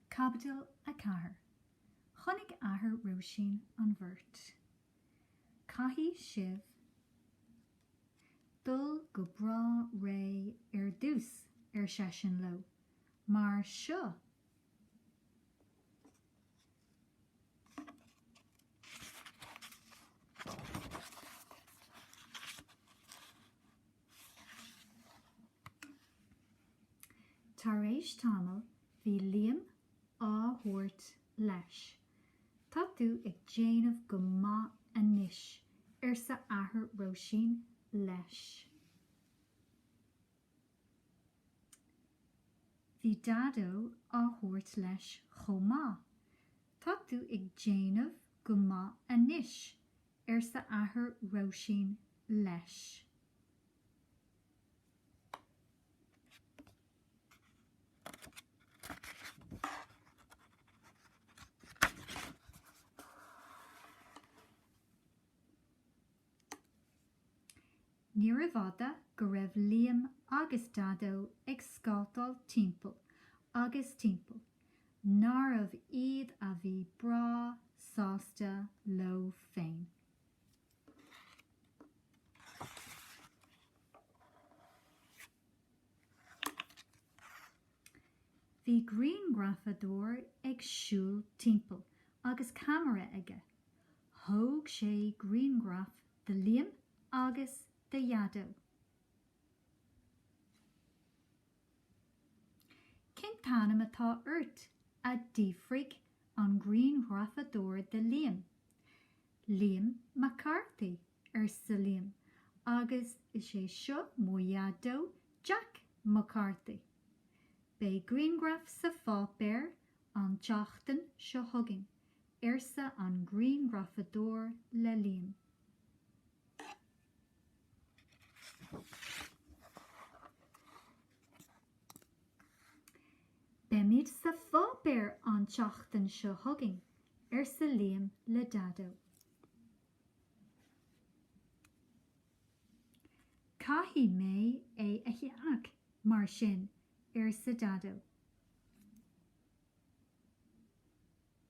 Caibidil 4. Chonaic athair Róisín an bheirt. Caithfidh sibh dul go breá réidh ar dtús, ar seisean leo, mar seo Tar éis tamaill bhí Liam á thabhairt leis. Tá tú ag déanamh go maith anois, arsa athair Róisín leis. Bhí Daideo á thabhairt leis chomh maith. Tá tú ag déanamh go maith anois, arsa athair Róisín leis. Níorbh fhada go raibh Liam agus Daideo ag scátáil timpeall agus timpeall nárbh iad a bhí breá sásta leo féin. Bhí grianghrafadóir ag siúl timpeall agus ceamara aige. Thóg sé grianghraif de Liam agus de Dhaideo. Cén t-ainm atá ort? a d'fhiafraigh an grianghrafadóir de Liam. Liam Mac Carthaigh, arsa Liam, agus is é seo mo Dhaideo Jack Mac Carthaigh. Beidh grianghraf sa pháipéar an tseachtain seo chugainn, arsa an grianghrafadóir le Liam. Beimid sa pháipéar an tseachtain seo chugainn, arsa Liam le Daideo. Caithfidh mé é a cheannach, mar sin, arsa Daideo.